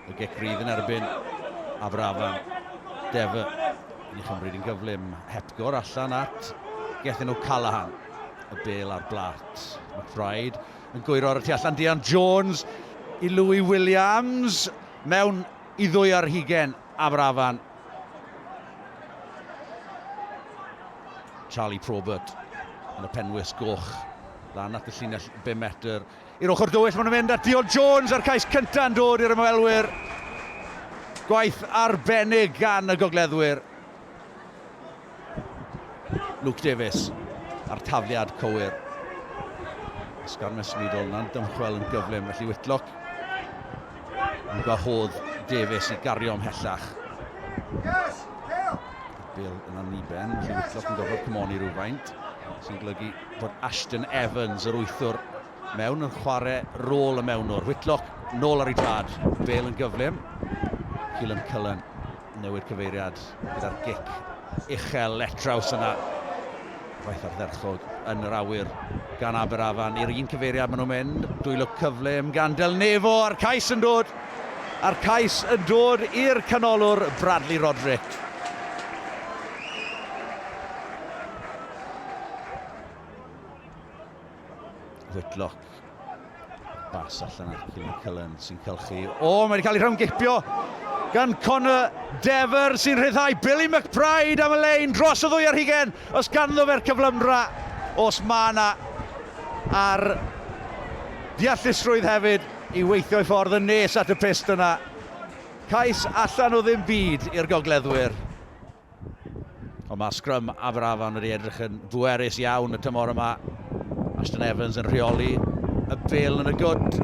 Y gic rydd yn erbyn Aberafan. Dever yn ei chymryd yn gyflym. Hepgor allan at Gethin O'Callaghan. Y bel ar blat. McBride yn gwyro ar y tu allan. Dian Jones i Louis Williams. Mewn i ddwy ar hugen Aberafan. Charlie Probert yn y penwys goch. Lan at y llinell 5 metr. I'r ochr dywyll maen nhw'n mynd at Dio Jones a'r cais cyntaf yn dod i'r ymwelwyr. Gwaith arbennig gan y gogleddwyr. Luke Davies a'r tafliad cywir. Ysgar Miss Meadle na'n dymchwel yn gyflym felly Whitlock yn gwahodd Davies i gario ymhellach. Bill yn anniben, felly Whitlock yn gorfod cymoni rhywfaint sy'n golygu fod Ashton Evans, yr wythwr, mewn yn chwarae rôl y mewnwr. Whitlock nôl ar ei drad, Bale yn gyflym. Keelan Cullen newid cyfeiriad gyda'r gic uchel letraws yna. Faith ardderchog yn yr awyr gan Aberafan i'r un cyfeiriad maen nhw'n mynd. Dwylo cyflym gan Del Nevo a'r cais yn dod. A'r cais yn dod i'r canolwr Bradley Roderick. Whitlock. Bas allan at Cillian Cullen sy'n cylchu. O, oh, mae'n cael ei rhawn gipio gan Connor Dever sy'n rhyddhau Billy McBride am y lein dros y ddwy ar hugen. Os ganddo fe'r cyflymdra, os mae yna ar ddeallusrwydd hefyd i weithio i ffordd yn nes at y pist yna. Cais allan o ddim byd i'r gogleddwyr. Ond mae'r sgrym Aberafan wedi edrych yn bwerus iawn y tymor yma. Ashton Evans yn rheoli y bel yn y gwt.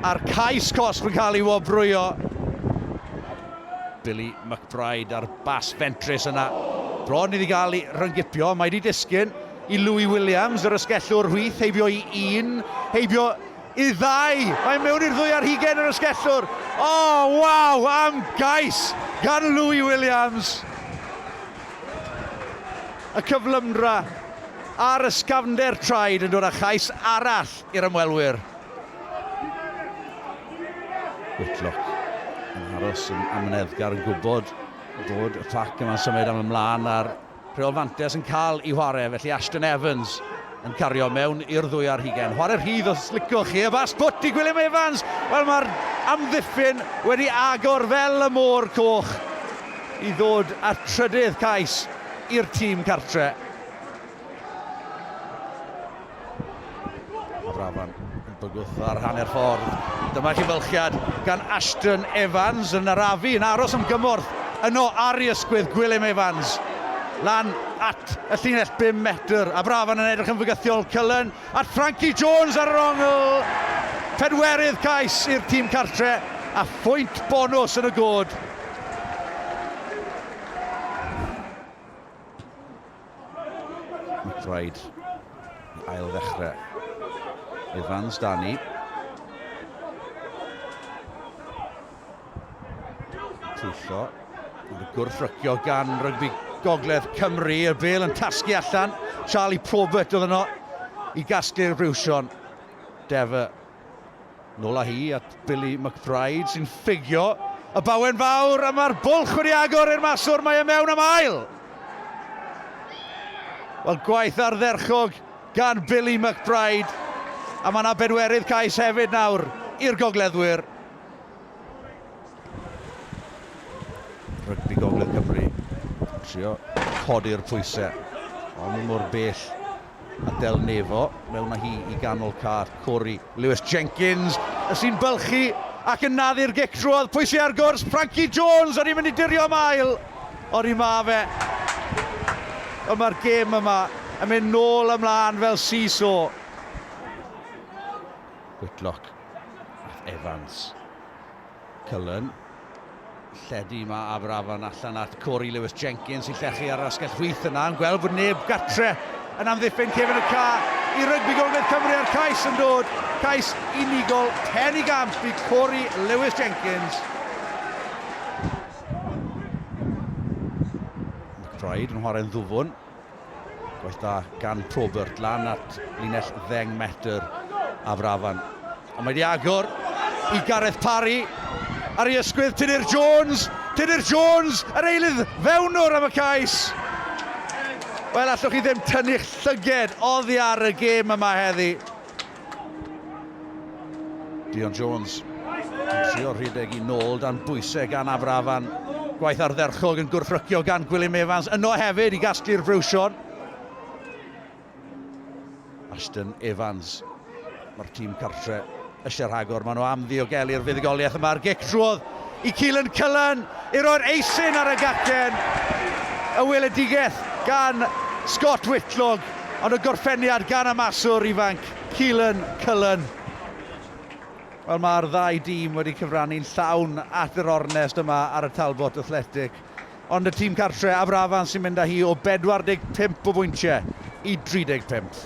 A'r cais cosb yn cael ei wobrwyo. Billy McBride a'r bas fentrus yna. Bron iddi gael ei ryngipio. Mae wedi disgyn i Louis Williams, yr ysgellwr hwyth, heibio i un, heibio Y ddau, mae mewn i'r ddwy ar hugain yr ysgellwr. O, waw, am gais gan Louis Williams. Y cyflymdra a'r ysgafnder traed yn dod â chais arall i'r ymwelwyr. Whitlock yn aros yn amyneddgar yn gwybod bod y cloc yma'n symud am ymlaen a'r Rheol fantes yn cael ei chwarae, felly Ashton Evans yn cario mewn i'r ddwy ar hugain. Chwarae rhydd os licwch chi, y fast put i Gwilym Evans! Wel, mae'r amddiffyn wedi agor fel y môr coch i ddod â'r trydydd cais i'r tîm cartre. Drafan yn bygwth ar hanner ffordd. Dyma chi fylchiad gan Ashton Evans yn arafu yn aros am gymorth yno ar ei ysgwydd Gwilym Evans. Lan at y llinell 5 metr a Brafan yn edrych yn fygythiol. Cullen at Frankie Jones ar yr ongl. Pedwerydd cais i'r tîm cartre a phwynt bonws yn y god. McBride i ail ddechrau. Evans, Dani. Trwsio. Mae'n gwrthrycio gan rygbi Gogledd Cymru. Y bel yn tasgu allan. Charlie Probert oedd yno i gasglu'r briwsion. Defa Nôl â hi at Billy McBride sy'n ffugio y bawen fawr a mae'r bwlch wedi agor i'r maswr, mae e mewn am ail! Wel, gwaith ardderchog gan Billy McBride a mae yna bedwerydd cais hefyd nawr i'r gogleddwyr. Rygbi Gogledd Cymru trio codi'r pwysau, ond mor bell A Del Nevo, mewn â hi i ganol car Cory. Lewis Jenkins sy'n bylchu ac yn naddu'r gic drwodd, pwy sy ar gwrs? Frankie Jones, o'n i'n mynd i dirio am ail, ond i ma fe. Ond mae'r gêm yma yn mynd nôl ymlaen fel seesaw. Whitlock, Evans. Cullen, lledu yma Aberafan allan at Cory Lewis-Jenkins i llechu ar yr asgell chwith yna, yn gweld bod neb gartre yn amddiffyn cefn y ca i rygbi Gogledd Cymru a'r cais yn dod, cais unigol, pen i gamp i Cory Lewis-Jenkins. McBride yn chwarae'n ddwfwn. Gwaith da gan Probert lan at linell ddeng metr a Frafan. Ond mae wedi agor i Gareth Parry. Ar ei ysgwydd, Tudur Jones. Tudur Jones, yr eilydd fewnwr am y cais. Wel, allwch chi ddim tynnu'ch llyged oddi ar y gêm yma heddi. Dion Jones yn trio rhedeg i nôl dan bwysau gan Afrafan. Gwaith ardderchog yn gwrthrycio gan Gwilym Evans yno hefyd i gasglu'r frwsion. Ashton Evans. Mae'r tîm cartre eisiau rhagor. Maen nhw am ddiogelu'r fuddugoliaeth yma. A'r gic trwodd i Keelan Cullen i roi'r eisin ar y gacen. Y weledigaeth gan Scott Whitlock. Ond y gorffeniad gan y maswr ifanc, Keelan Cullen. Wel, mae'r ddau dîm wedi cyfrannu'n llawn at yr ornest yma ar y Talbot Athletic. Ond y tîm cartre, Aberafan, sy'n mynd â hi o 45 o bwyntiau i 35.